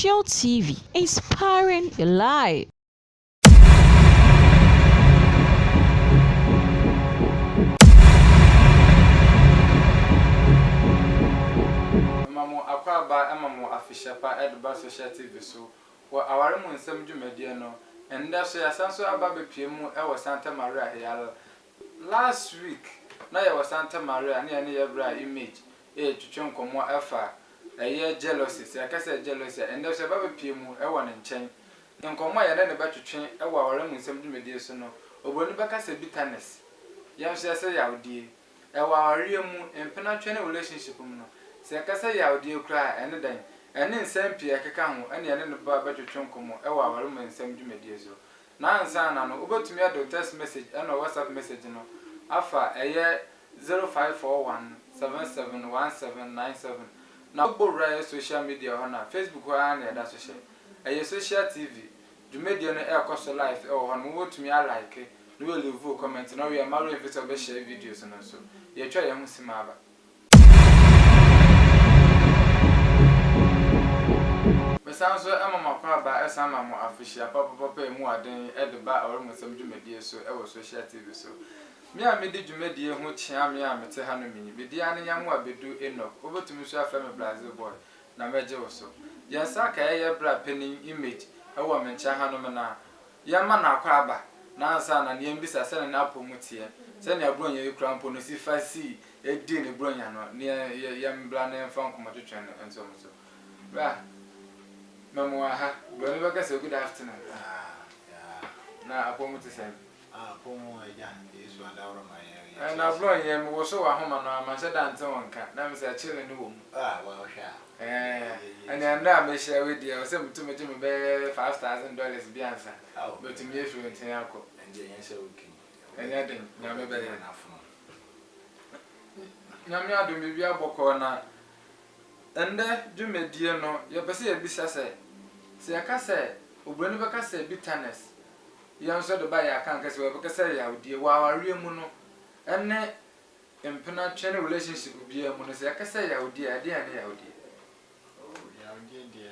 Social TV, inspiring your life. Mema mo akwaaba ma mo afehyɛ pa de ba Social TV so wɔ aware mu nsɛm dwumadie no ɛndɛ so yɛasan so aba abɛpue mu wɔ Santa Maria Real last week na yɛwɔ Santa Maria ne yɛne yɛbra image retwetwe nkɔmmɔ ɛfa ɛyɛ jealousy sɛ yɛka sɛ jealousy a ɛndɛ so yɛba abɛpue mu wɔ ne nkyɛn nkɔmmɔ a yɛne no bɛtwetwe wɔ aware mu nsɛm dwumadie so no obroni bɛka sɛ bitterness yɛn nso yɛsɛ yawdie Ɛwɔ awareɛ mu, mpena ntwɛn ne relationship mu no, sɛ yɛkasa yawdeɛ koraa a, ɛne dɛn? Ɛne nsɛm pii a ɛkeka ho ɛne yɛne no ba bɛtwetwe nkɔmmɔ ɛwɔ aware mu nsɛm dwumadie so. Na ansa na no, wobɛtumi ɛdo text message ɛnɔ WhatsApp message no afa ɛyɛ 0541771797 na wobɔ wura yɛ social media hɔ no a, Facebook hɔ ara na yɛda so hyɛ. Ɛyɛ social TV. Dwumadie no ɛkɔ so live ɛwɔ hɔ nom wo bɛtumi a like na wo leave wo comment na wo wie a mma w'ɛnfi sɛ wo bɛ share videos no nso. Yɛtwa yɛn ho sim aba. Me san nso ɛma mo akwaaba ɛsan ma mo afihyia papapapa ɛmu aden ɛde ba Awerɛhosɛm dwumadie so ɛwɔ Social TV so. Me a medi dwumadie ho kyea me a mete ha nom yi, me din ane Nyamoa Bedu Enoch, wo bɛtumi nso afrɛ me Brazil boy. na mɛgye wo so. Yɛn saakae a ɛyɛ bra panin image wɔ me nkyɛn hanom no a, yɛmma no akwaaba na ansa na nea mbisa sɛnea n'apɔmu teɛ, sɛnea Buronya yi kura mpo no si fa sii dii ne Buronya no nea yɛ yɛmbra na yɛmfa nkɔmmɔ twetwe no nso mo so. Bra, mɛmoa ha. Buroni bɛka sɛ, Good afternoon. Ah, yeah. Na apɔmu te sɛn? Nablo nnyɛ me woso w'ahoma no a manhyɛ da nnte wo nka na mesɛ kyele no wɔ mu eh Nea nnɛ a mehyia we deɛ ɔsɛ metu megye me bɛyɛ five thousand dollars bi ansa mɛtumi afiri wo nkyen akɔ Ɛnyɛ den Nyame bɛyɛ Nyame adom biribi abɔ kɔɔ na ɛnnɛ dwumadie no yɛpɛ sɛ yɛbisa sɛ, sɛ yɛka sɛ obroni bɛka sɛ bitterness. Binom so de ba yɛ akanka sɛ wɔbɛkasa yawdie wɔ awareɛ mu no ne mpena twe ne relationship biaa mu no sɛ yɛkasa yawdie a ɛdeɛn ne yawdie? Oh yawdie deɛ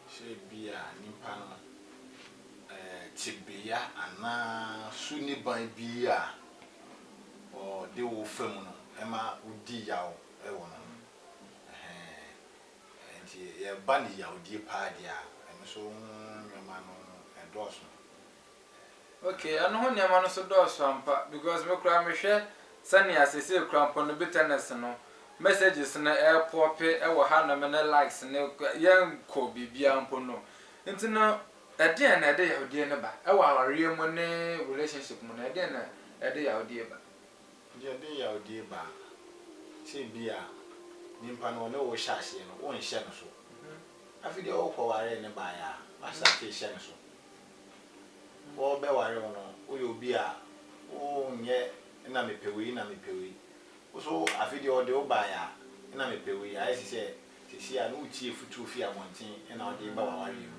sɛ bia nipa no eh tebeya anaa su niban bia ɔde wo fa mu no ɛma wodi yaw wɔ no ho ɛhɛɛn. Nti yɛba ne yawdie paa deɛ a, ɛno nso ho nneɛma no ɛdɔɔso. Ok, ɛno ho nneɛma no nso dɔɔso ampa because me koraa mehwɛ sɛnea seesei koraa mpo no bitterness no, messages no ɛɛpɔɔpe wɔ hanom ne likes no yɛnkɔ biribiara mpo no. Nti no ɛdeɛn na ɛde yawdie no ba? Ɛwɔ awareɛ mu ne relationship mu no ɛdeɛn na ɛde yawdie ba? Ɔde ɔde yawdie ba. Sɛ ebia nyimpa no ɔne wo hyɛ aseɛ no wonhyɛ no so. Afei deɛ wokɔwaree no baeɛ a woasate rehyɛ no so. Wɔrebɛware wo no woyɛ obi a wonyɛ na mepɛ wei na mepɛ wei. Wo nso afei deɛ ɔde wo baeɛ a na mepɛ wei ayɛ te sɛ Seesei a na wotie afutuo fi abɔnten na wɔde reba w'awareɛ mu.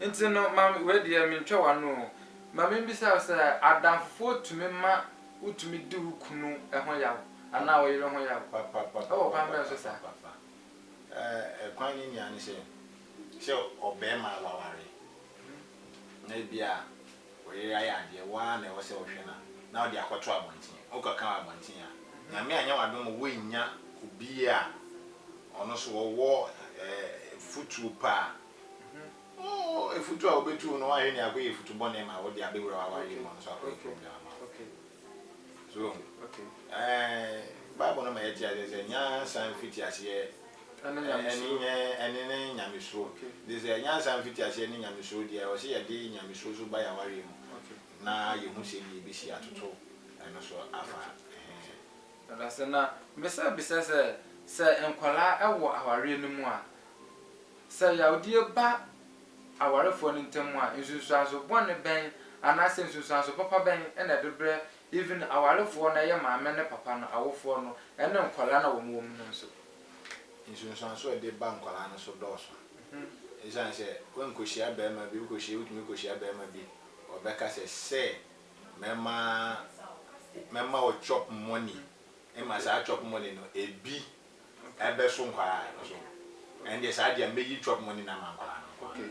Nti no mame, wei deɛ mentwa w'ano o, ma membisa wo sɛ, adamfofoɔ tumi ma wotumi di wo kunu ho yaw anaa wo yere ho yaw? Ɛwɔ kwan bɛn so saa? Papapapapapapapapapapapa. Kwan no nyinaa ne sɛ, sɛ ɔbarima a waware, na ebia. Ɔyere ayɛ adeɛ, wo ara na ɛwɔ sɛ wohwɛ no na wode akɔto abɔnten. Wokɔka wɔ abɔnten a, Nyame anyɛ w'adom ma woannya obi a ɔno nso ɔwɔ afutuo pa a, oh, afutuo a wobɛtu wo no, woanhwɛ no akɔyɛ afutu bɔne ma wo de abɛwura w'awareɛ mu, ɔno nso akɔyɛ problem ama wo. So, eh, Bible no ma yɛte aseɛ sɛ, nyansa mfitiaseɛ Ɛne ne nyamesuro. Nti sɛ nyansa mfitiaseɛ ne nyamesuro deɛ a, ɔse yɛde nyamesuro nso ba yɛn awareɛ mu na yɛhu sɛdeɛ yɛbɛsi atoto ɛno so afa he. Medase. Na mesa bisa sɛ, sɛ nkwadaa wɔ awareɛ no mu a, sɛ yadeɛ ba awarefoɔ no ntam a, nsunsuanso bɔne bɛn anaasɛ nsunsuanso papa bɛn na ɛde berɛ Even awarefoɔ no ɛyɛ maame ne papa no awofoɔ no ɛne nkwadaa no a wɔn wɔ mu no nso. Nsunsuansoɔ a ɛde ba nkwadaa no so dɔɔso. Ɛsiane sɛ woankɔhyia barima bi, wokɔhyia, wotumi kɔhyia barima bi, ɔbɛka sɛ, sɛ mɛma, mɛma wo chop money, ɛma saa chop money no ɛbi ɛbɛso nkwadaa no so. Ɛndeɛ saa deɛ mɛyi chop money no ama nkwadaa no nko ara.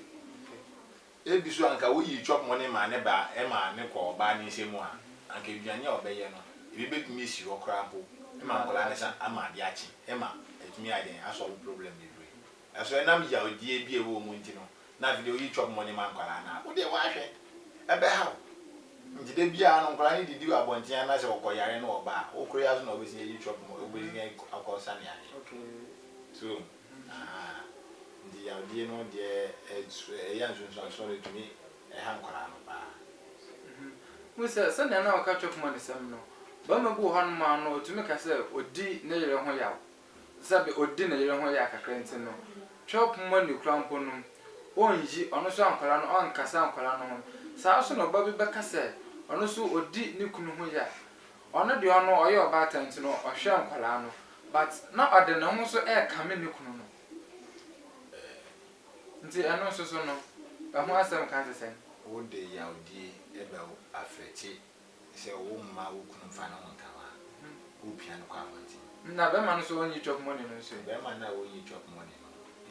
Ebi so a anka woyii chop money maa ne ba ma ne kɔ ɔbaa ne nsa mu a, anka aduane a ɔbɛyɛ no, ebi betumi asi hɔ koraa mpo ma nkwadaa no nsa ama ade akye ma atumi ayɛ dɛn, asɔlve problem bebree. Ɛso ɛnam yawdie bi a ɛwɔ mu nti no, na afei deɛ woyi chop money ma nkwadaa no a, wo deɛ woahwɛ, ɛbɛha wo. Nti da biara no nkwadaa no didi wɔ abɔnten anaa sɛ wɔkɔyare na wɔba a, wo koro yi ara so na wobɛtumi ayi chop money, wobɛtumi akɔ sa ne adeɛ. So. Ahaa nti yawdie no deɛ ɛyɛ a nsonsuansoɔ no ɛtumi ha nkwadaa no paa. Wohu sɛ sɛdeɛ na ɔka chop money sɛm no, barima bi wɔ hɔ nom a no ɔtumi ka sɛ ɔdi ne yere ho yaw, sɛdeɛ ɔdi ne yere ho yaw kakra nti no, chop money koraa mpo no ɔnyi ɔno nso nkwadaa no ɔnkasa nkwadaa no ho. Saa nso na ɔba bi bɛka sɛ ɔno nso ɔdi ne kunu ho yaw. Ɔno deɛ ɔno ɔyɛ ɔbaatan nti no ɔhwɛ nkwadaa no but na ɔde ne ho nso ɛrekame ne kunu no nti ɛno nso so no ɛho asɛm ka te sɛn? Wo de yawdie ɛbɛ afɛkye sɛ wo mma wo kunu mfa ne ho nka wo a wo pia no kɔ abɔnten. Na bɛrima no so ɔnyi chop money no nso ɛ? Bɛrima no a ɔnyi chop money no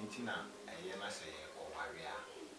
nti na ɛyɛ na sɛ ɔware a.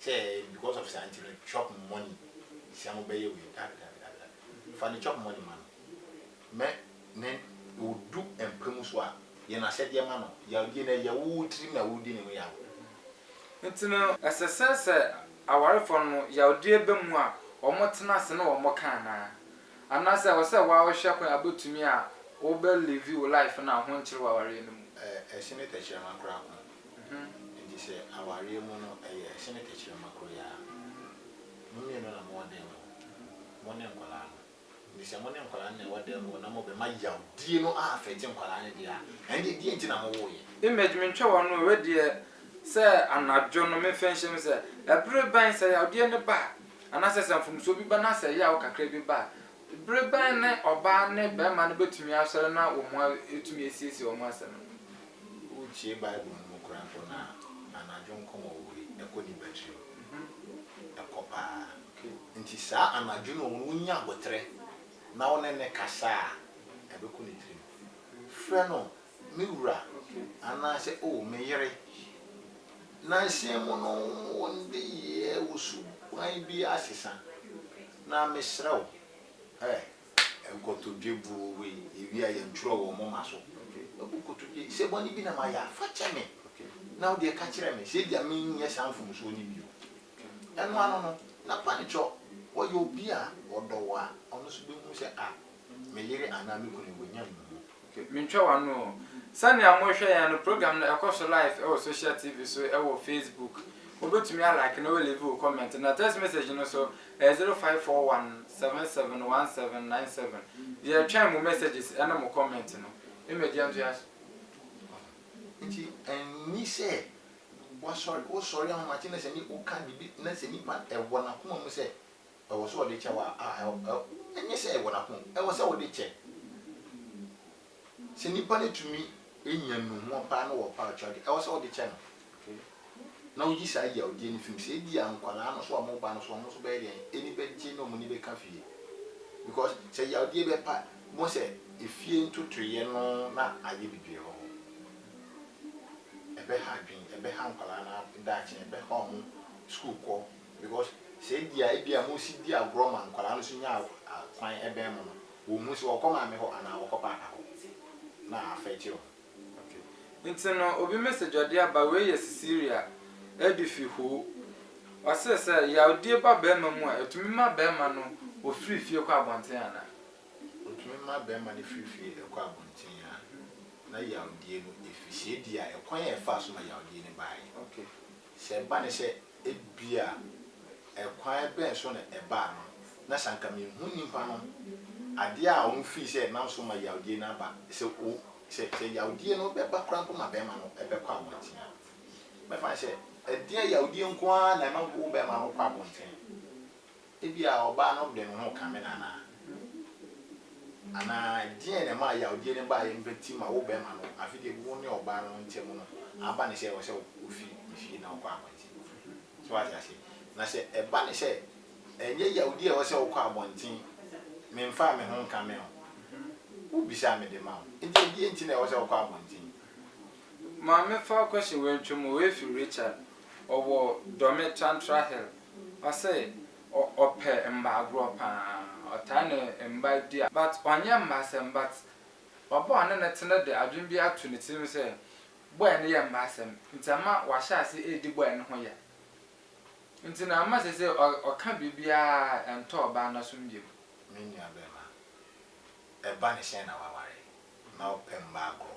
Sɛ because of saa nti no chop money sia mo bɛyɛ wei dabi dabi dabi dabi fa ne chop money ma no mɛ ne odu mpa mu so a yɛ no asɛdeɛ ma no yawdie no ɛyɛ wo tirim na wodi ne ho yaw nti no. Ɛsɛ sɛ sɛ awarefoɔ no no yawdie ba mu a wɔn tena ase ne wɔn ka anaa? Anaa sɛ ɛwɔ sɛ waa wo hwɛ kwan a wobɛtumi a wo bɛ live wo life no a ho nkyere wɔ awareɛ no mu? Ɛsene tɛkyerɛma koraa ko. Ho nti sɛ awareɛ mu no ɛyɛ ɛsene tɛkyerɛma koro yi ara. Mo mmienu na mowɔ dan mu hɔ, mo ne nkwadaa no. Nti sɛ mo ne nkwadaa no na ɛwɔ dan mu hɔ na mobɛma yawdie no a affect nkwadaa no deɛ a, ɛnneɛ deɛ nti na mowoeɛ? Image, Mentwa wo ano o, wei deɛ sɛ anadwo no memfa nhyɛ mu sɛ ɛbere bɛn sɛ yawdeɛ no ba a, anaasɛ sɛ mfomsoɔ bi ba na sɛ yaw kakra bi ba a, bere bɛn ne ɔbaa ne barima no bɛtumi asɔre na wɔatumi asiesie wɔn asɛm no? Wotie Bible no mu koraa mpo no a, anadwo nkɔmmɔ wɔ hɔ yi, ɛkɔ nnipa tirim. Ɛkɔ paa. Enti saa anadwo no a wunya aboterɛ na wo ne no kasa a, ɛbɛkɔ ne tirim. Frɛ no me wura anaasɛ oh me yere. Nnansa mu no, wo nneyɛɛ, wo suban biara asesa. Na mesrɛ wo, eh. Nkotodwe buu wei, ewie a yɛntwerɛ wɔ moma so. Ɛbu nkotodwe yi, sɛ bɔne bi na mayɛ a, fa kyɛ me, na wo deɛ ka kyerɛ me sɛ ebia menyɛ saa mfomsoɔ no bio. Ɛno ano no, na Pannikyɔ ɔyɛ obi a ɔdɔ wo a, ɔno nso bɛhunu sɛ ah, me yere anaa me kunu yi, wanya nnuho. Okay, mentwa w'ano o. Sɛnea morehwɛ yɛn no, program no ɛkɔ so live wɔ social TV so wɔ Facebook. Wobɛtumi a like na woaleve wo comment. Na text message no nso, ɛyɛ zero five four one seven seven one seven nine seven. Yɛretwɛn mo messages ne mo comment no. Image yɛntoa so. Nti ɛnni sɛ wasɔre, wosɔre ahomakye na sɛ ni, woka biribi na sɛ nipa ɛwɔ n'akoma mu sɛ Ɛwɔ sɛ ɔde kyɛ wo a, a, ɛwɔ, ɛwɔ, ɛnyɛ sɛ ɛwɔ n'akoma mu, ɛwɔ sɛ wode kyɛ. Sɛ nipa no tumi nya nnuhuam paa na ɔwɔ pouch a, ɛwɔ sɛ wode kyɛ no. Na woyi saa yawdie no fi mu. Sɛ edi a nkwadaa no so a wɔn ba no so, wɔn nso bɛyɛ deɛn? Ani bɛgye na wɔn ani bɛka fie. Because sɛ yawdie bɛpa, bohu sɛ efie ntotoeɛ no na ayɛ bebree wɔ hɔ. Ɛbɛha adwene, ɛbɛha nkwadaa no daakye, ɛbɛha wɔn sukuu kɔ. Because sɛ ebia ebia mo si di agorɔ ma nkwadaa no nso nya kwan bɛn mo no, wɔn hu sɛ wɔkɔ maame hɔ anaa wɔkɔ paapa hɔ na affect wɔn. Okay. Nti no obi message ɔde aba wei yɛ Cecilia ɛde fi hoo. Ɔse sɛ yawdie ba bɛɛma mu a ɛtumi ma bɛɛma no ɔfiri fie kɔ abɔnten anaa? Ɔtumi ma bɛɛma no firi fie ɛkɔ abɔnten a na yawdie no ɛfiri. Sɛ ebia ɛkwan a ɛfaa so ma yawdie no baeɛ. Okay. Sɛ ɛba no sɛ ebia ɛkwan bɛn so na ɛbaa no, na sɛ anka minhu nnipa no, ade a wɔfii sɛ ɛnam so ma yawdie no aba, sɛ o, sɛ, sɛ yawdie no bɛba koraa mpo ma bɛrima no bɛkɔ abɔnten a, mɛfa no sɛ, ɛdeɛn, yawdie nko ara na ɛma wo bɛrima no kɔ abɔnten? Ebia ɔbaa no de ne ho kame no anaa? Anaa deɛn na ɛmaa yawdie no baeɛ no bɛti ma wo bɛrima no afe deɛ gu wo ne ɔbaa no ntam no aba no sɛ ɛwɔ sɛ wofi ne fie na wokɔ abɔnten kɔfrɛ no? So wate aseɛ? Na sɛ ɛba no sɛ ɛnyɛ yawdie a ɛwɔ sɛ wokɔ abɔnten, memfaa me ho nkame wo, wobisa a mede ma wo. Enti ɛdeɛn nti na ɛwɔ sɛ wokɔ abɔnten? Maame Falkoshe Wentwemu, Efi Richard, ɔwɔ Dome Trantra Hill. Ɔse ɔ ɔpɛ mba agorɔ paa ɔtaa ne mba di a but ɔnyɛ mba asɛm but ɔba ɔne no te no de adwen bi ato ne tirim sɛ boy no yɛ mba asɛm nti ama wahyɛ ase edi boy no ho ya nti na ama sesei ɔ ɔka biribiaa ɛntɔ ɔbaa no asom biom. Me nua bɛɛma, ɛba ne hyɛn na waware na ɔpɛ mba agorɔ.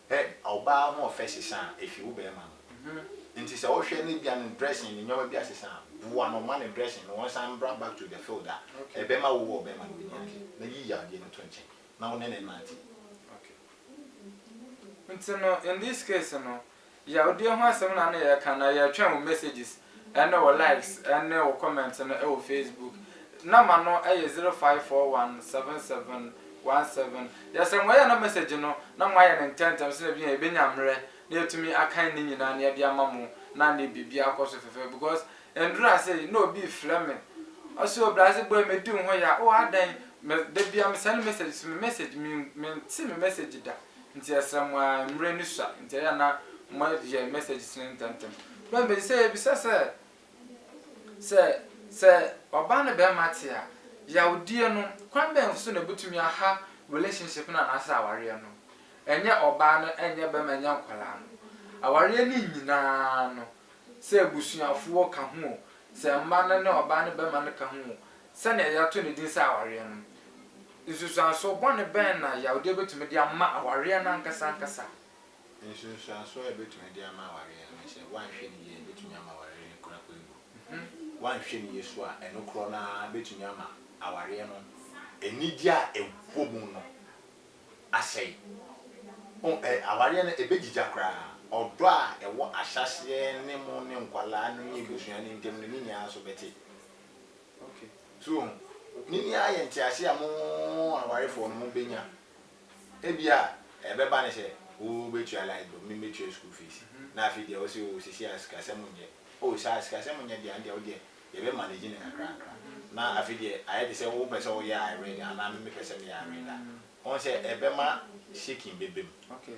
Hwɛ ɔbaa ahoɔfɛ sesa a efi wo barima no ho nti sɛ wohwɛ no ebia ne dressing ne nneɛma bi asesa a boa no ma ne dressing no ɔnsan mbra back to the field a ɛbɛma wo wɔ ɔbarima no w'ani agye na yi yadeɛ no to nkyɛn na wo ne no nnante. Nti no in this case no yawdeɛ ho asɛm na na yɛreka anaa yɛretwɛn wo messages ɛne wo likes ɛne wo comment no ɛwɔ Facebook Number no ɛyɛ zero five four one seven seven one seven Deɛ sɛ moyɛ na message no na moayɛ no ntɛntɛm sɛdeɛ ɛbɛnya yɛbɛnya mmerɛ na yɛatumi akan ne nyinaa na yɛde ama mo na ne biribiara akɔ so fɛfɛɛfɛ because ɛnduru ha sei na obi refrɛ me ɔse o Brase boy medi wo ho ya oh adɛn me dabiara me send message so me message me mente me message da Nti ɛsrɛ mo aa mmrɛ no sua nti ɛyɛ a na mo yɛ messages no ntɛm ntɛm. Bɛn bɛ sɛ yɛbisa sɛ sɛ sɛ ɔbaa ne bɛɛma te a yawdie no kwan bɛn so na ɛbɛtumi aha relationship no anaasɛ awareɛ no? Ɛnyɛ ɔbaa no ɛnyɛ bɛɛma ɛnyɛ nkwadaa no awareɛ no nyinaa no sɛ abusuafoɔ ka ho o sɛ mma no ne ɔbaa ne bɛɛma no ka ho o Sɛnea yɛato no din sɛ awareɛ no, nsunsuansoɔ bɔne bɛn na yawodeɛ bɛtumi de ama awareɛ no ankasa ankasa? Nsunsuansoɔ a ɛbɛtumi de ama awareɛ no ne sɛ, woanhwɛ no yie a, ɛbɛtumi ama awareɛ no kura kwan mu. Woanhwɛ no yie nso a, ɛno korɔ no ara bɛtumi ama awareɛ no anigyeɛ a ɛwɔ mu no asɛe. Awareɛ no, ɛbɛgyigya koraa. Ɔdɔ a ɛwɔ ahyɛaseɛ ne mu ne nkwadaa no ne abusua no ntam no, ne nyinaa nso bɛte. Okay. So wɔn, ne ni ara yɛ ntease a mo awarefoɔ no mo bɛnya. Ebi a ɛbɛba ne sɛ, wo bɛtua light bill, me mɛtua school fees. Na afei deɛ wo se o sisi a sikasɛm nyɛ. O saa sikasɛm nyɛ deɛ andeɛ wo deɛ yɛbɛ manage no kakra kakra. Na afei deɛ ayɛ te sɛ wo pɛ sɛ wo yɛ I read anaa me me pɛ sɛ me yɛ I read a. Wɔn sɛ ɛbɛma shaking bɛba mu. Okay.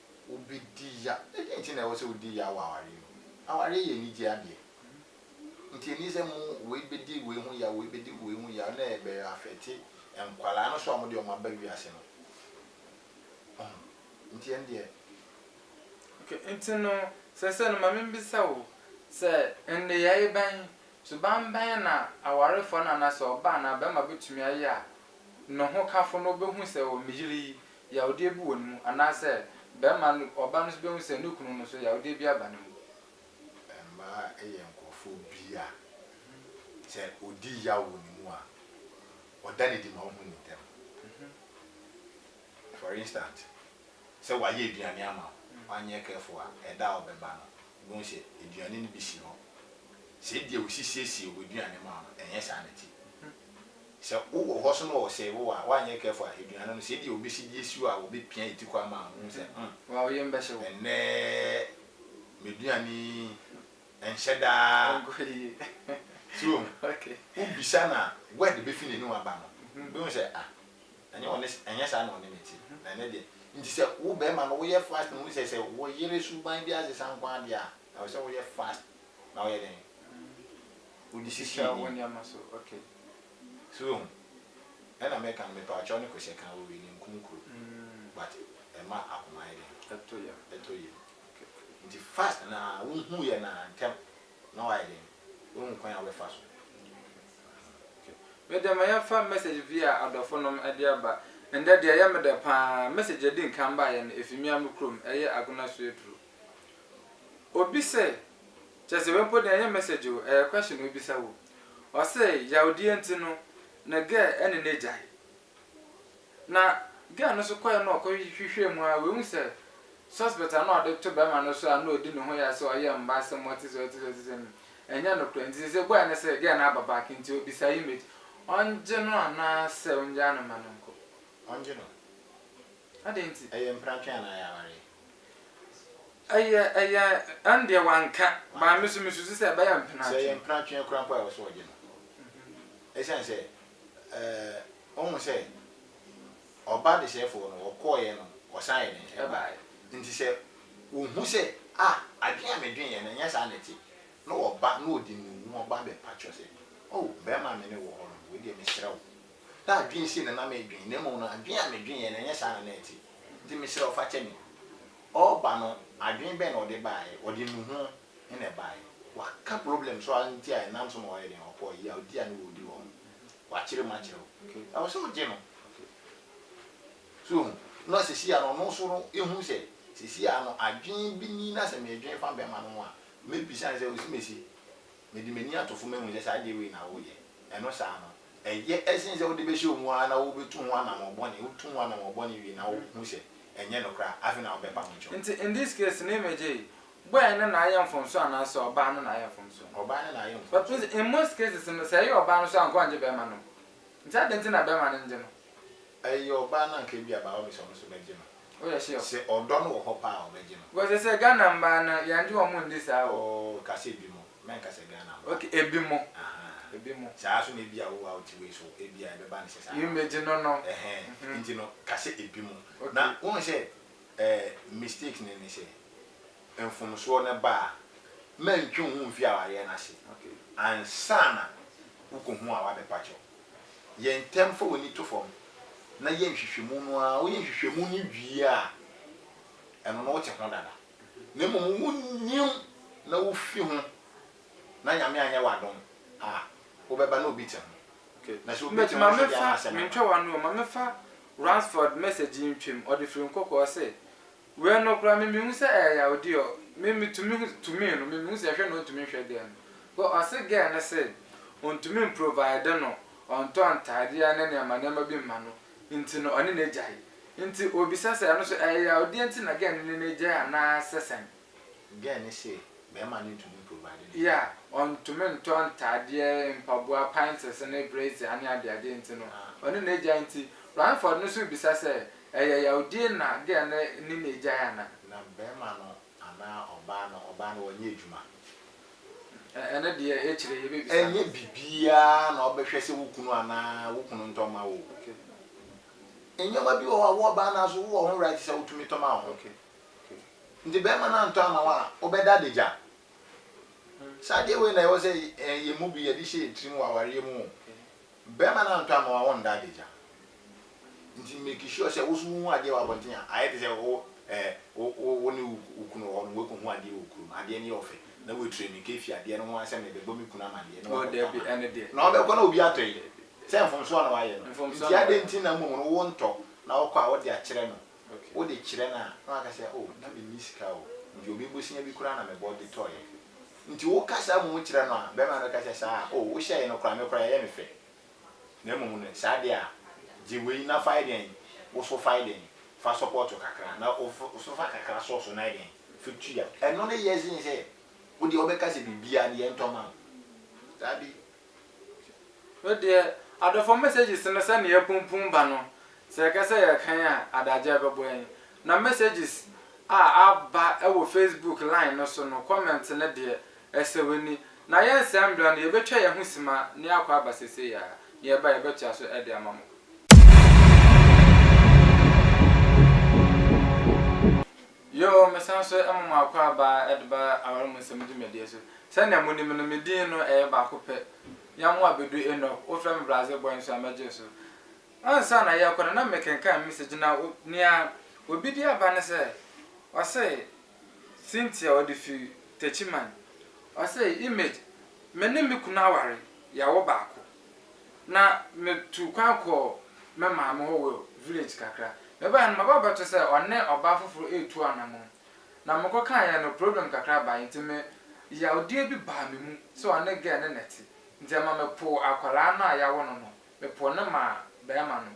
Wobɛdi ya. Ɛdeɛn nti na ɛwɔ sɛ wodi yaw wɔ awareɛ mu? Awareɛ yɛ anigyeɛ adeɛ. Nti ɛnni sɛ mo wei bɛdi wei ho yaw, wei bɛdi wei ho yaw na ɛbɛ afɛte nkwadaa no nso a wɔde wɔn aba wiase no. Ɔho. Nti ɛno deɛ. Ok, nti no, seesei no ma membisa wo, sɛ nneyɛeɛ bɛn, suban bɛn na awarefoɔ no anaasɛ ɔbaa anaa barima bɛtumi ayɛ a ne hokafo no bɛhu sɛ, oh, me yere yi, yawdeɛ bi wɔ ne mu anaasɛ barima no, ɔbaa no nso bɛhu sɛ ne kunu no nso yawdeɛ bi aba ne mu. Mmaa yɛ nkorɔfoɔ bi a sɛ ɔdi yaw wɔ ne mu a, ɔda no adi ma wohu no ntɛm. For instant, sɛ wayɛ aduane ama wo, wanyɛ careful a, ɛda a ɔbɛba no, wobɛhu sɛ aduane no bi si hɔ. Sɛ ebia ɔsisiesie w'aduane ma wo no, ɛnyɛ saa na ɛte. Sɛ wo wɔ hɔ so na ɔsɛe wo a, woanyɛ careful a, aduane no, sɛ ebia obesi gye asi hɔ a, obepia atikɔ ama wo, wohu sɛ, hmm, Wa wo yam bɛhye wo. ɛnnɛ m'aduane yi nhyɛ da Ɛnkɔ yie. So wohu? Okay. Wobisa na word befi n'anim aba no, obehu sɛ, ah, ɛnyɛ ɔne, ɛnyɛ saa na ɔne me te, na ɛnnɛ deɛ. Nti sɛ wo barima no woyɛ fast na wohu sɛ sɛ wo yere suban bi asesa nko ara deɛ a, ɛwɔ sɛ woyɛ fast na woyɛ dɛn? Wode sisi Bisa wo n'anim. nneɛma so, okay. So wohu? Ɛna meka no mepaakyɛw ne kohyɛ ka wɔ wei no nkum kuro but ɛma akoma yɛ dɛn? Ɛtɔ yam. Ɛtɔ yam. Nti fast no ara wohu yɛ no ara ntɛm na wayɛ dɛn? Wahu kwan a wobɛfa so. Meda ma yɛmfa message bi a adɔfo nom de aba. Ɛndɛ deɛ ɛyɛ me dɛ paa, message a ɛdi nkan baeɛ no ɛfiri me ara me kurom, ɛyɛ Agona Suaduro. Obi sɛ, kyerɛ sɛ wei mpo deɛ ɛnyɛ message o, ɛyɛ question na ɔbisa wo. Ɔse yawdie nti no ne girl ɛne no agyae. Na girl no nso kɔɛ na ɔkɔ hwehwɛɛ mu aa w'ehu sɛ suspect a na ɔde to bɛɛma no so a na ɔdi ne ho ya sɛ ɔyɛ mma asɛm ɔte sɛ ɔte sɛ ɔte sɛ no ɛnyɛ nokorɛ nti sese ebuaɛ ne sɛ girl no aba back nti ɔbisa image ɔngye no anaa sɛ ɔngyaa no mma no nkɔ. Ɔngye no. Adɛn nti? Ɛyɛ mpratwe anaa ɛyɛ awareɛ? Ɛyɛ, ɛyɛ, ɛno deɛ wanka, but me nso mesusu sɛ ɛbɛyɛ mpratwe. Sɛ ɛyɛ mpratwe koraa mpo a, ɛwɔ sɛ ɔgye no. Ɛsiane sɛ, eh, wohu sɛ, ɔbaa desɛefoɔ no, ɔkɔeɛ no, ɔsan yɛ dɛn? Ɛbaeɛ. Nti sɛ ɔhu sɛ, ah, adwene a medweneeɛ no, ɛnyɛ saa na ɛte, na ɔba na ɔde ne wu ho ba abɛpa kyerɛ sɛ, oh, barima a me ne wo wɔ hɔ no, wei deɛ mesrɛ wo, Ná adwene sei na na medwen, na mmom no, adwene a medweneeɛ no, ɛnyɛ saa na na ɛte. Enti mesrɛ wo, fa kyɛ me. Ɔreba no, adwene bɛn na ɔde baeɛ? Ɔde nnuho na ɛbaeɛ. Waka problem so ara nti a ɛnam so ma wayɛ dɛn? Ɔpɔɔ yawdi a na wɔredi wɔ hɔ no. Wakyerɛ mu akyerɛ wo. Ɛwɔ sɛ wogye no. So wohu? Na seesei ara no, ɔno nso no, ɛhu sɛ, seesei ara no, adwene bi ni, na sɛ medwene fa bɛrima no ho a, mɛbisa no sɛ, Osimesie, Mede m'ani ato fam ahu sɛ saa adeɛ wei na woreyɛ. Ɛno saa no, ɛyɛ sene sɛ wode bɛhyɛ wɔn ara na wobɛtu ho anammɔn bɔne. Wotu ho anammɔn bɔne wie na wohu sɛ ɛnyɛ nokorɛ a, afei na wobɛpa ho kyɛw. Nti in this case no image yi, boy no na ayɛ mfomsoɔ anaasɛ ɔbaa no na ayɛ mfomsoɔ no? Ɔbaa no na ayɛ But mfomsoɔ. in most cases no, sɛ ɛyɛ ɔbaa no nso a anka ɔngye bɛɛma no. Nti adɛn nti na bɛɛma no ngye no? Ɛyɛ ɔbaa no anka ebia by all means ɔno nso bɛgye no. Woyɛ sure? Sɛ ɔdɔ no wɔ hɔ paa a ɔbɛgye no. Because sɛ Ghana mbaa no yɛngye wɔn ndi saa o. Oh ka sɛ ebi mo, mɛnka sɛ Ghana mbaa. Okay ebi mo. Ahaa. Ebi mo. Saa nso na ebia wo a wote wei so ebia ɛbɛba no sɛ saa ara. Yɛmɛgye no no. Ɛhɛn, nti no ka sɛ ebi mo. Okay. Na wohu sɛ ɛɛ mistake no ne sɛ mfomsoɔ no ba a, mɛntwe wo ho mfi awareɛ no ase Okay. ansa na wokɔhu a wabɛpa kyɛw. Yɛ ntɛm fa w'ani to fam na yɛ nhwehwɛmu no ara. Woyɛ nhwehwɛmu no wie a, ɛno no wote ho dada. Na mmom wonnim na wofi ho na Nyame anyɛ w'adom a, wobɛba na obi te ho. Na sɛ obi te ho nso deɛ a na asɛm aba. Ma me fa Ransford message yi ntwam, ɔde firi nkɔkɔɔ se, Wei no koraa me mehu sɛ ɛyɛ yawdi ɔ me me tumi hu tumi no me mehu sɛ hwɛ na ɔntumi nhwɛ girl no cos ɔse girl no se ɔntumi mprovide no ɔntɔ ntaadeɛ ne nneɛma nneɛma bi mma no nti no ɔne no agyae nti ɔbisa sɛ ɛno so ɛyɛ yawdeɛ nti na girl no ne no agyae anaa sɛ sɛn. Girl no se bɛɛma no ntumi mprovide ne yeah ɔntumi ntɔ ntaadeɛ mpaboa panties ne brazier ne adeadeɛ nti no ɔne no agyae nti Rainford no so rebisa sɛ Ɛyɛ yawdie na girl no ne no agyae ana. Na bɛɛma no anaa ɔbaa no ɔbaa no wɔnyɛ adwuma. Ɛno deɛ akyire yɛbɛbisa no. Ɛnyɛ bibiaa na ɔbɛhwɛ sɛ wo kunu anaa wo kunu ntɔ ma wo o. Nneɛma bi wɔ hɔ a wo ɔbaa no ara nso wowɔ ho right sɛ wotumi tɔ ma wo ho. Nti bɛɛma no antɔ ama wo a wobɛda adagya. Saa adeɛ wei na ɛwɔ sɛ yɛn mu bi yɛde hyɛ yɛn tirim wɔ awareɛ mu o. Bɛrima no antɔ amoa wɔ nda adagya nti make sure sɛ wo so wo hu adeɛ wɔ abɔnten a ayɛ te sɛ wo eh wo wo ne wo kunu wɔ hɔ nom wɛkɔ hu adeɛ wɔ kurom adeɛ no yɛ ɔfɛ na wɛ tire mika fie adeɛ no ho asɛm na ɛbɛbɔ me kunu amadeɛ na wakɔ tɔ ama no na ɔbɛkɔ na obi atɔ yi sɛ mfomsoɔ na wayɛ no nti adɛn nti na mmom no wo ntɔ na ɔkɔ a wode akyerɛ no wo de kyerɛ no a na waka sɛ oh na menni sika o nti obi bosia bi koraa na mebɔ de tɔeɛ. Nti wo ka saa mmom kyerɛ no a, bɛrima no ka sɛ, saa a, oh, wo hyɛɛe no koraa, me koraa ɛyɛ me fɛ. Na mmom no, saa deɛ a, gye wei na fae dɛn, wo so fae dɛn, fa sɔpɔɔto kakra, na wo fa, wo so fa kakra sɔ so na dɛn, fa tua. Ɛno ne yɛ sen sɛ, wo deɛ wobɛka sɛ biribiara no yɛntɔ ma wo. Daabi, Me deɛ adɔfoɔ messages no sɛnea apumpum ba no sɛ yɛka sɛ yɛrekan a adagyaa bɛbɔ yɛn. Na messages a aba wɔ Facebook line no so no comment no deɛ ɛsɛ w'ani. Na yɛnsan mmra no yɛbɛtwa yɛn ho sima na yɛakɔ aba seesei ara. Na yɛba a yɛbɛtoa so de ama mo. Yoo, mesan nso ma mo akwaaba de ba aware mu nsɛm dwumadie so. Sɛdeɛ monim no, me din no ɛyɛ baako pɛ. Yamoah Bedu Enoch, wofrɛ me Brazil boy nso a, mɛgye so. Ansa na yɛrekɔ no, na mekenkan message no a nea obi de aba ne sɛ, ɔse, Cynthia, ɔde firi Techiman. Ɔse, Image, me ne me kunu aware, yɛawo baako. na metuu kwan kɔɔ me maame hɔ wɔ village kakra. Mebaeɛ no, maba abɛto sɛ ɔne ɔbaa foforɔ retu anamɔn. Na mekɔkaeɛ no, problem kakra baeɛ nti me yawodeɛ bi baa me mu sɛ ɔne girl no na ɛte. Nti ɛma mepoo akwadaa no a yawo no no, mepoo no maa barima no.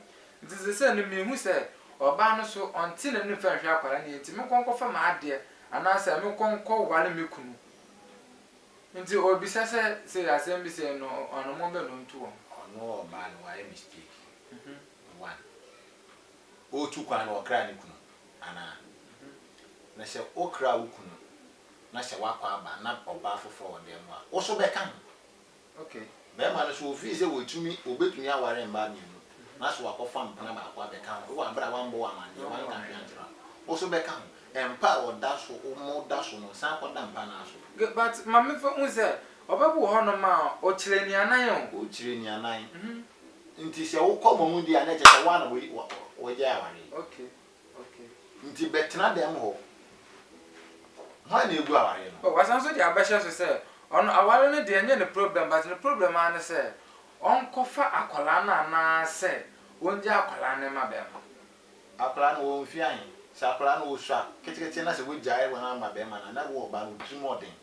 Nti seesei no mehu sɛ ɔbaa no so ɔnte n'anim fa nhwɛ akwadaa no yie nti menkɔ nkɔfa m'adeɛ anaasɛ menkɔ nkɔware me kunu. Nti obisa sɛ sei asɛm bi sei no ɔno mo bɛ no ntu wɔn. Ɔno ɔbaa no wayɛ mistake one ɔretu kwan no ɔkraa ne kunu anaa na sɛ ɔkraa wo kunu na sɛ wakɔ aba na ɔbaa foforɔ wɔ dan mu a wo so bɛka ho. Okay. Mmarima no nso, wɔfii sɛ wɔtumi, wɔbɛtumi aware mmaa mmienu, na so wɔakɔfa mpena baako abɛka ho, wɔ berɛ a wɔammɔ wo amanneɛ, wɔanka hwee ankyerɛ wo a, wo nso bɛka ho. Mpa a wɔda so, wɔda so no, san kɔda mpa no ara so. Good, but Maame fa hu sɛ, ɔbɛboro hɔ nom a, ɔkyerɛ nnianan o. Ɔkyerɛ nnianan. Nti sɛ wokɔ mmamu di a, na ɛkyerɛ sɛ wo ara na wɔgyae awareɛ. Okay. Nti bɛtena dɛm hɔ. Hwan na egu aware no? Oh, wasan nso de abɛhyɛ so sɛ, ɔno aware no deɛ ɛnyɛ ne problem but ne problem ara ne sɛ ɔnkɔfa akwadaa no anaasɛ ɔngya akwadaa no mma bɛrima no. Akwadaa no ɔwɔ mfeɛ ahe? Sɛ akwadaa no ɔsua ketekete na sɛ wagyae wɔn ama bɛrima no a, na wowɔ ɔbaa no wotiri mu ɔden.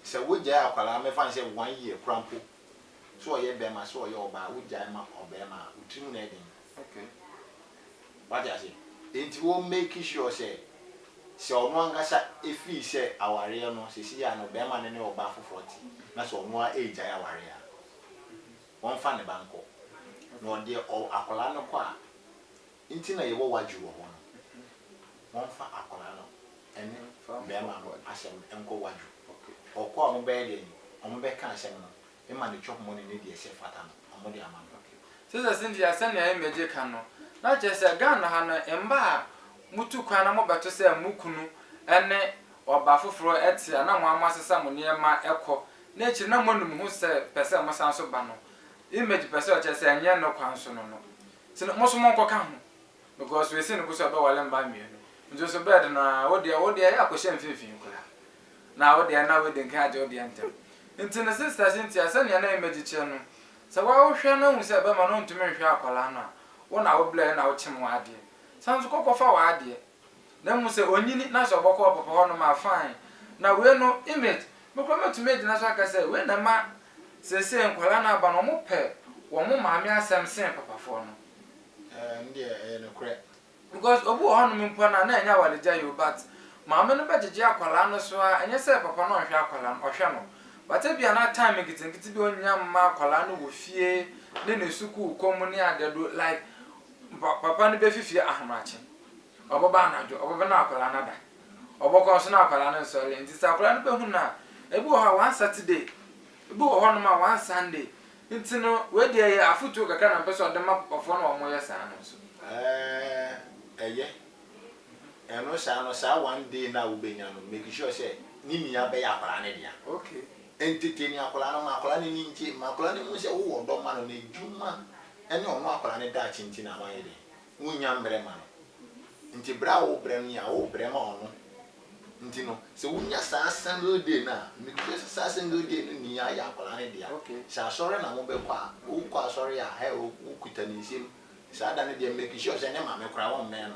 Sɛ wagyae akwadaa mɛfa no sɛ one year koraa mpo. sɛ ɔyɛ bɛma sɛ ɔyɛ ɔbaa wo gyae ma ɔbɛma a wo tirimu na ɛyɛ den wate aseɛ enti wo make sure sɛ sɛ ɔno ankasa ɛfii sɛ awareɛ no sɛsi yɛ a no bɛma no ne ɔbaa foforɔ te na sɛ ɔno a ɛgyae awareɛ a wɔmfa ne ba nkɔ na ɔdeɛ akwadaa no kɔ a nti na yɛwɔ wadwe wɔ hɔ no, wɔmfa akwadaa no ne barima no asɛm nkɔ wadwe. Wɔkɔ a, wɔbɛyɛ dɛn? Wɔbɛka asɛm no ma ne twɔhomɔne ne deɛ ɛsɛ fata no, wɔde ama no. Sister Cynthia, sɛnea Imegye ka no, na kyerɛ sɛ Ghana ha no, mma a motu kwan na mobɛto sɛ mo kunu ne ɔbaa foforɔ te a na mo ara moasesa mo nneɛma kɔ, na akyiri na moanu mo ho sɛ pɛ sɛ mosan nso ba no, Imegye pɛ sɛ ɔkyerɛ sɛ ɛnyɛ ne kwan so no no. Nti no moso monkɔ ka ho because wei sei no koso ɛbɛwale mma mmienu nti nso bed no aa wo deɛ wo deɛ yɛ akɔhyɛ mfinfin koraa na wo deɛ na wedding kan agye wo deɛ ntɛm nti no sister Cynthia sɛnea na Image kyeɛ no sɛ wa wo hwɛ na hu sɛ bɛma no ntumi nhwɛ akwadaa no a wo na wo blɛɛ na wo kyem w'adeɛ san nso kɔ kɔfa w'adeɛ Na mmom sɛ ɔnyini na sɛ ɔbɔkɔ ɔpɔpɔ hɔ nom a fine. Na wei no image, me koraa mɛtumi agyina so aka sɛ wei na ɛma seesei nkwadaa no aba no wɔpɛ wɔn maame asɛm sen papafoɔ no. Ɛɛ, ɛno deɛ ɛyɛ nokorɛ. Because obi wɔ hɔ nom mpo no a na ɛnyɛ awaregyaeɛ o but maame no bɛgyegye akwadaa no so ara, ɛnyɛ sɛ papa no ɔnhwɛ akwadaa no, ɔhwɛ no but ebia na time nketenkete bi a ɔnnya mma akwadaa no wɔ fie ne ne sukuu kɔ mu ne adeɛ do like Mpa papa no bɛfi fie ahomakye, ɔbɛba anadwo, ɔbɛba na akwadaa no ada, ɔbɛkɔ nso na akwadaa no nsɔreɛ nti sɛ akwadaa no bɛhu no a, ebi wɔ hɔ a one Saturday, ebi wɔ hɔnom a one Sunday, nti no wei deɛ yɛ afotuo kakra na mepɛ sɛ ɔde ma papafoɔ no a wɔyɛ saa no nso. Ɛɛɛ ɛyɛ, ɛno saa no saa one day no a wobɛnya no make sure sɛ ne nyinaa bɛyɛ akwadaa no dea, entertain akwadaa no, ma akwadaa no ani ngye, ma akwadaa no nhu sɛ wowɔ ɔdɔ ma no, n'adwuma ɛne ɔno akwadaa no daakye nti na moayɛ dɛn? Monnya mmerɛ ma no. Nti berɛ a worebrɛ no yɛ a, worebrɛ ma ɔno. Nti no, sɛ wonya saa single day no a, mekura sɛ saa single day no ni ara yɛ akwadaa no dea. Sɛ asɔre na mobɛkɔ a, wokɔ asɔre a, hɛ, wokuta ne nsam. Saa da no deɛ, make sure sɛ ne maame koraa, wɔmmɛn no.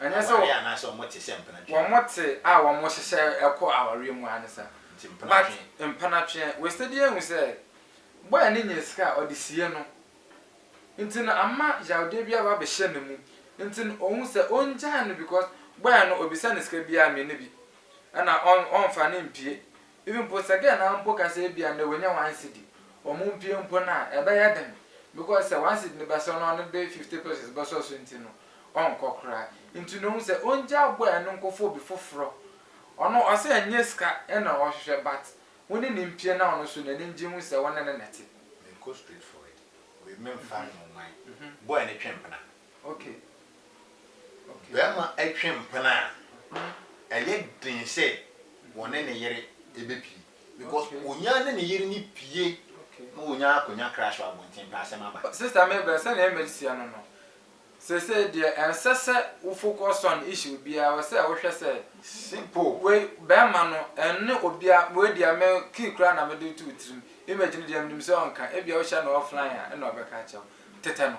Ɛnyɛ sɛ wɔte a wɔhyehyɛ kɔ awareɛ mu ara ne saa. But mpenatwe, wɔasitadi ahu sɛ boy no nyɛɛ sika a ɔde sie no nti no ama yaredeɛ bi aba abɛhyɛ ne mu nti no ɔhu sɛ ɔngyae no because boy no ɔbisa no sika biara me ne bi ɛna ɔmfa no mpue Even mpo sɛ girl naa mpo ka sɛ ebia ndɛ wanya one cedi, ɔmo mpie mpo no a, ɛbɛyɛ den because sɛ one cedi no bɛsɔ na ɔno de fifty pesos bɛsɔ so nti no, ɔnkɔ koraa. Nti no ohu sɛ ongyaa boy no nkɔfa obi foforɔ. Ɔno ɔse ɛnyɛ sika na ɔhwehwɛ but wo ne no mpie na ɔno so n'ani ngye hu sɛ wo ne no na ɛte. Menkɔ straight forward, wei memfa nnoman, boy no twe mpena, Barima twe mpena a, ɛyɛ den sɛ wɔne ne yere bɛpue because ɔnya ne ne yere no pue na wɔnya akɔnya crush wɔ abɔnten pɛ asɛm aba. Sister Mabel, sɛnea Emily seɛ no no, seesei deɛ ɛnsɛ sɛ wo focus on issue biara, ɛwɔ sɛ wohwɛ sɛ Simple. wei barima no ɛnne obiara, wei deɛ me key koraa na mede reto wo tirim, image no deɛ menim sɛ ɔnka, ebia wohyɛ no offline a ɛna ɔbɛka akyerɛ wo. Tetɛ no.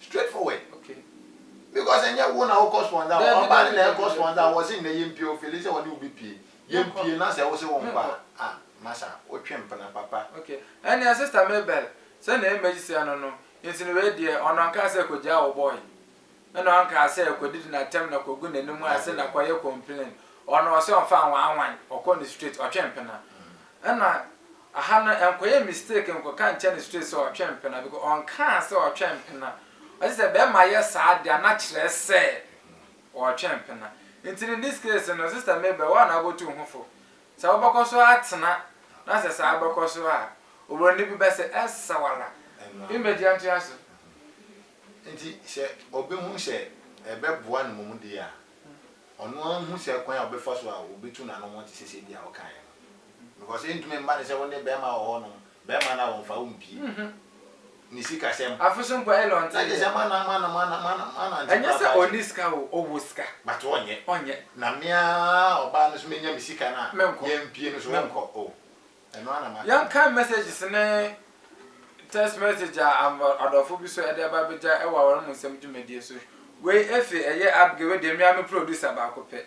Straight forward okay because ɛnyɛ wo na wo kɔ sponsor wɔn ɔbaa no na ɛkɔ sponsor wɔ se nnɛ yɛn pie o fili sɛ wɔne wo bɛ pie yɛn pie na sɛ wo se wo nkɔ a ah masa wo twe mpena papa. Okay ɛneɛ sister Mabel sɛ na image seɛ no no nti no wei deɛ ɔno ankaa sɛ kɔ gyaa wo boy ɛna ɔnkaa sɛ kɔ didi na tɛm na kɔ gu na nim ase na kɔ yɛ complain ɔno ɔse ɔnfa nwanwan ɔkɔ ne straight ɔtwe mpena ɛna Aha no nkɔyɛ mistake nkɔka nkyerɛ no straight sɛ ɔtwɛn mpena because ɔnkaa sɛ ɔtwɛn mpena. Ɔse sɛ bɛɛma yɛ saa de a na kyerɛ sɛ ɔɔtwɛn mpena. Nti no in this case no sister Mabel woa na wobɔtu wo ho fo. Sɛ wobɛkɔ so atena na sɛ saa bɛkɔ so a obroni bi bɛse sawala image antoa so. Nti sɛ ɔbɛhu sɛ ɛbɛboa no mmom deɛ a ɔno ara nhu sɛ kwan a ɔbɛfa so a ɔbɛtu n'ano ho te sɛ sɛdeɛ a ɔkaeɛ no. Because ɛntumi mma no sɛ wo ne bɛrima wɔ hɔnom, bɛrima no a ɔmfa wo mpie. Ne sikasɛm. Afe so mpo Elon te. Na kyerɛ sɛ mana mana mana mana mana nti Ɛnyɛ sɛ ɔnni sika o, ɔwɔ sika. But ɔnyɛ. Ɔnyɛ. Na me ara ɔbaa no so menya me sika no a. Menkɔ. Yɛmpie no so ɔnkɔ. Oh. Yɛnkae messages ne text message a adɔfo bi so ɛde ba bɛgya wɔ aware mu nsɛm dwumadie so. Wei efe ɛyɛ Abigail wei deɛ mea me producer baako pɛ.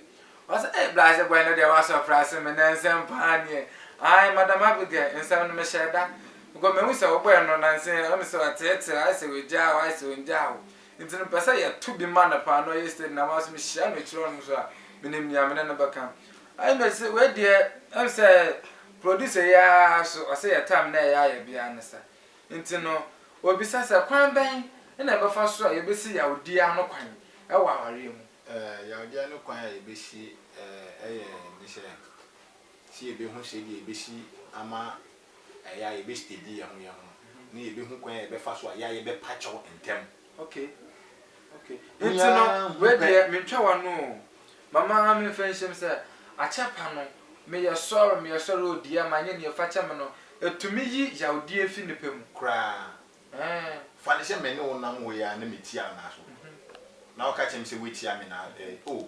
Ɔsɛ eh Blase boy no deɛ wa surprise me na nsɛm paa nie. Ae madam Abigail nsɛm no me hyɛɛ da because mehu sɛ wo bɔɛ no na nse wo ne sɛ ɔteetee ayɛ sɛ wagyaa wo ayɛ sɛ ongyaa wo nti no mepɛ sɛ yɛto bi ma no paa na ɔyɛ steady na ma so mehyia no akyire hɔ nom so a menim nea me ne no bɛka. Ɛna me se wei deɛ ɛm sɛ producer yi ara so ɔse yɛ time na ɛyɛ ayɛ biara ne sa nti no ɔbisa sɛ kwan bɛn na ɛbɛfa so a yɛbɛsi yawdie ano kwan wɔ awareɛ mu. Ɛɛ yawdie ano kwan a yɛbɛsi ɛɛ yɛ ne sɛ sɛ yɛbɛhu sɛdeɛ yɛbɛsi ama ɛyɛ a yɛbɛ steady yɛho yɛho ne yɛbɛhu kwan a yɛbɛfa so a ɛyɛ a yɛbɛpa kyɛw ntɛm. Okay. Okay. Nti no, wei deɛ mentwa w'ano o. Mama memfa nhyem sɛ, akyɛpa no, meyɛ sɔre meyɛ sɔre o dear manyɛ nea fa kyɛ me no, ɛtumi yi yawdeɛ fi nipa mu. Koraa. Ɛɛ. Fa no sɛ me ne wo nam hɔ yi ara na metia wo nan so. Na woka kyerɛ me sɛ woatia me nan, eh, oh.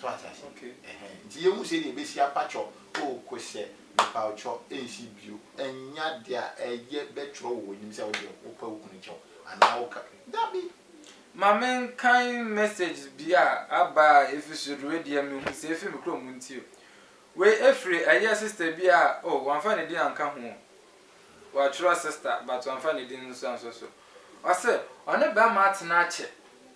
So wate ase? Okay. Ɛhɛn. Nti yɛhu sɛ deɛ ɛbɛsi apakyɔ. O Kosɛ, mepawkyɔ, ɛnsi bio. Ɛnyɛ adeɛ a ɛyɛ bɛtwerɛ wɔ w'anim sɛ wodeɛ wopɛ wo kunu kyɛ wo anaa woka. Dabi! Ma menkan messages bi a aba a ɛfiri soro deɛ wei deɛ mehu sɛ ɛfiri me kurom nti o. Wei ɛfiri ɛyɛ sister bi a, oh wamfa ne din anka ho o. Watwerɛ sister but wamfa ne din nso anso so. Ɔse ɔne bɛrima atena akyɛ.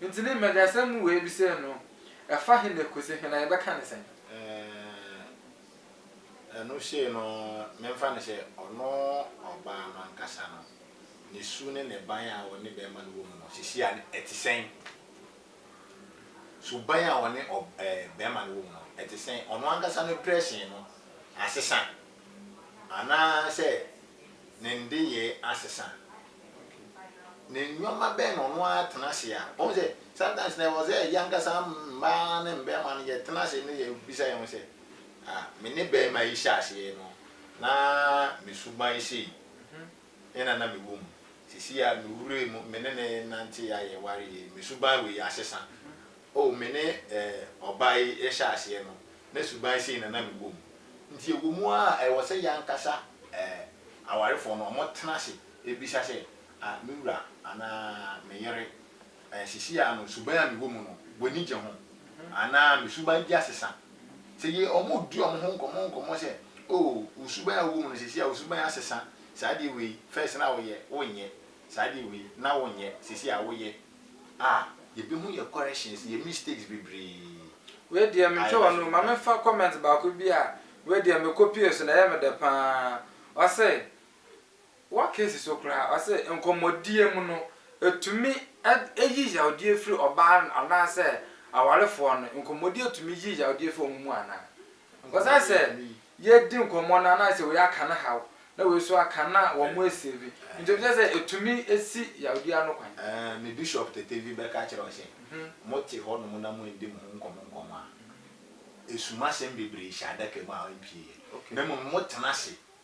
Ntsi ne mbɛndzasɛm mu woebisae no, ɛfa hen na kosi hen, na yɛbɛkã no sɛn? Eeh, ɛno sei no, memfa no sɛ ɔno ɔbaa no ankasa no, ne su ne ne ban a ɔne bɛrima no wɔ mu no, sisi a ɛte sɛn? Suban a ɔne ɔb ɛɛ bɛrima no wɔ mu no, ɛte sɛn? Ɔno ankasa no dressing no, asesa anaasɛ ne nneyɛe asesa? Ne nneɛma bɛn na ɔno ara tena ase a ɔhu sɛ sometimes na ɛwɔ sɛ yɛn ankasa mmaa ne mmarima no yɛtena ase ne yɛbisa yɛn ho sɛ, Ah, me ne barima yi hyɛ aseɛ no, na me suban sei na na mewɔ mu. Seesei a mewura mu, me ne no renante a yɛware yei, me suban wei asesa. O, me ne ɔbaa yi rehyɛ aseɛ no, na suban sei na na mewɔ mu. Nti ɛwɔ mu ara a, ɛwɔ sɛ yɛn ankasa awarefoɔ no, wɔtena ase bisa sɛ, Ah, me wura anaa me yere, seesei ara no, suban a mewɔ mu no, w'ani gye ho? Anaa me suban di asesa? Sɛ yɛ, wɔredi wɔn ho nkɔmmɔ nkɔmmɔ sɛ, O, wo suban a wowɔ mu no, seesei ara wo suban asesa, saa adeɛ wei, first na woyɛ, wonyɛ, saa adeɛ wei, na wonyɛ, seesei ara woyɛ. a yɛbɛhu yɛ corrections, yɛ mistakes bebree. Wei deɛ me ntwa wano ma me fa comment baako bi a wei deɛ me copie so na ɛyɛ me dɛ paa ɔse wɔ case so koraa ɔse nkɔmɔdie mu no ɛtumi yi yawdie firi ɔbaa anaa sɛ awarefoɔ no nkɔmɔdie tumi yi yawdie firi wɔn mu anaa Ɔsɛ sɛ yɛdi nkɔmmɔ no anaasɛ wei aka no haw na wei nso aka no a wɔasave. Nti obi kyerɛ sɛ ɛtumi si yawdi ano kwan. Me bishop tete vi bɛka kyerɛ wo sɛ mote hɔnom na moanndi mo ho nkɔmmɔ nkɔmmɔ a, ɛsum asɛm bebree hyɛ adaka mu a ɛmpieɛ na mmom motena ase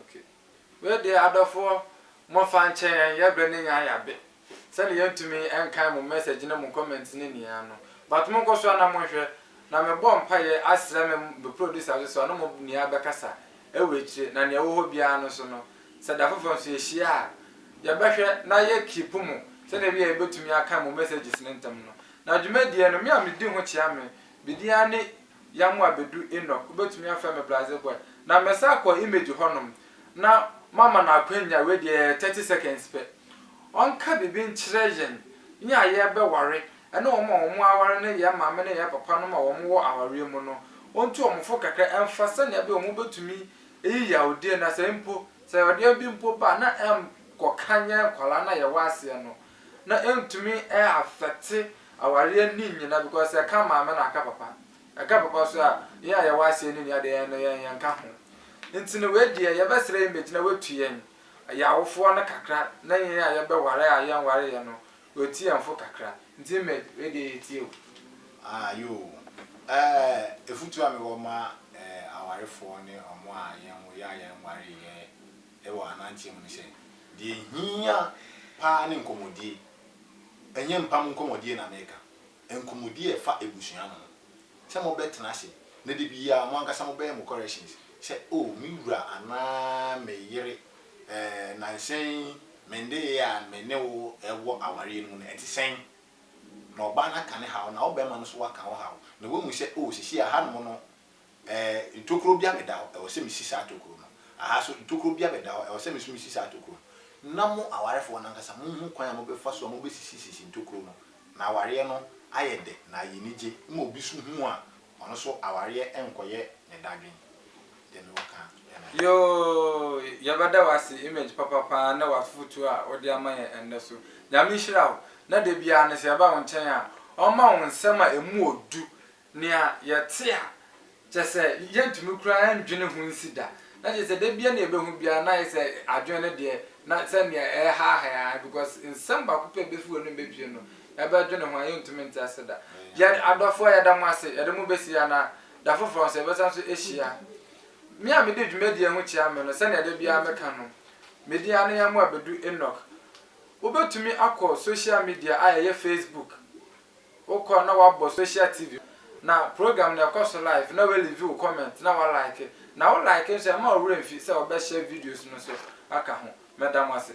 Okay. Wei deɛ adɔfoɔ mofa nkyɛ yɛn yɛ brɛ ne nya yabe sɛne yɛn tumi nkan mo message ne mo comments ne nyinaa no but monkɔ so ana monhwɛ na me bɔ mpaeɛ asrɛ me me producer nso sɛ ɔne mo nua bɛkasa ɛwɔ akyire na nea ɛwɔ hɔ biara no nso no sɛ da foforɔ nso yɛhyia a yɛbɛhwɛ na yɛ keep mo sɛne ɛbɛyɛ yɛbɛtumi akan mo messages no ntɛm no na dwumadie no me a me di ho kyea me me din ara ne Yamu abedu Enoch, wobɛtumi afrɛ me Blasé boy. Na mɛsan akɔ Image hɔnom na mama no akwanya, wei deɛ ɛyɛ thirty seconds pɛ, ɔnka biribi nkyerɛ yɛn, yɛn a yɛrebɛware, ɛne wɔn a wɔaware ne yɛn maame ne yɛn papanom a wɔwɔ awareɛ mu no, ɔntu wɔn fo kakra mfa sɛnea ɛbɛyɛ a wɔbɛtumi ayi yaodie no, na sɛ mpo, sɛ yaodie bi mpo ba a, na ɛnkɔka yɛn nkwadaa no a yɛwɔ aseɛ no. na ɛntumi ɛ affecte awareɛ ne nyina because ɛka maame na aka papa ɛka papa so a yɛn a yɛwɔ aseɛ ne nua deɛ yɛn no yɛn yɛnka ho nti no wei deɛ yɛbɛsrɛ yɛn bɛgyina watu yɛn yɛn awofoɔ no kakra na yɛn a yɛbɛware a yɛnwareɛ no watu yɛn fo kakra nti Image wei deɛ yɛtie o. Ah yoo eh efutuo a mewɔ ma eh awarefoɔ ne ɔmo a yɛnwo yɛ a yɛnwareɛ wɔ ananteɛ mu no sɛ, Deɛ ɛhia paa ne nkɔmmɔdie. Ɛnyɛ mpam nkɔmmɔdie na mereka, nkɔmmɔdie a ɛfa abusua no ho. Sɛ mobɛtena ase na da biara mo ankasa mobɛyɛ mo corrections sɛ, Oh, me wura anaa me yere, eh, nnansa yi me nneyɛɛ a me ne wo wɔ awareɛ no mu no, ɛte sɛn? Na ɔbaa no aka ne haw, na wo barima no nso waka wo haw, na woahu sɛ, Oh, seesei ahanom no Ɛɛ, ntokuro bia meda hɔ, ɛwɔ sɛ mesi saa tokuro no. Aha nso, ntokuro bia meda hɔ, ɛwɔ sɛ me nso mesi saa tokuro no. Na mo awarefoɔ no ankasa monhu kwan a mobɛfa so a mobɛsisisisi ntokuro no, na awareɛ no ayɛ dɛ na ayɛ anigye ma obi nso hu a, ɔno nso awareɛ nkɔyɛ ne dadwen. Deɛ mewɔ ka ara ne. Yoo, yɛbɛda wo ase Image papa paa ne w'afotuo a wode ama yɛn ɛnnɛ so. Nyame nhyira wo, na da biara no sɛ yɛba wo nkyɛn a, ɔmma wo nsɛm a ɛmu ɔdu Nea yɛte a, kyerɛ sɛ yɛntumi koraa nnwene ho nsi da. Na kyerɛ sɛ da biara na yɛbɛhu biara na ayɛ sɛ adwene no deɛ na sɛ nea ɛrehaahae ara because nsɛm baako pɛ a ɛbɛfi w'anom bɛpue no, yɛbɛdwene ho a yɛntumi nte ase da. Yɛ adɔfoɔ yɛda mo ase, yɛde mo bɛsi ha na da foforɔ nso yɛbɛsan nso ahyia. Me a mede dwumadie ho kyea me no, sɛnea da biara meka no, me din ara ne Yamoah Bedu Enoch. Wobɛtumi akɔ social media a ɛyɛ Facebook. Wokɔ na wabɔ social TV na program no ɛkɔ so live na wa leave wo comment na wa like na wo like nso ɛma wo werɛ mfi sɛ ɔbɛ share videos no nso aka ho. Mɛda mo ase.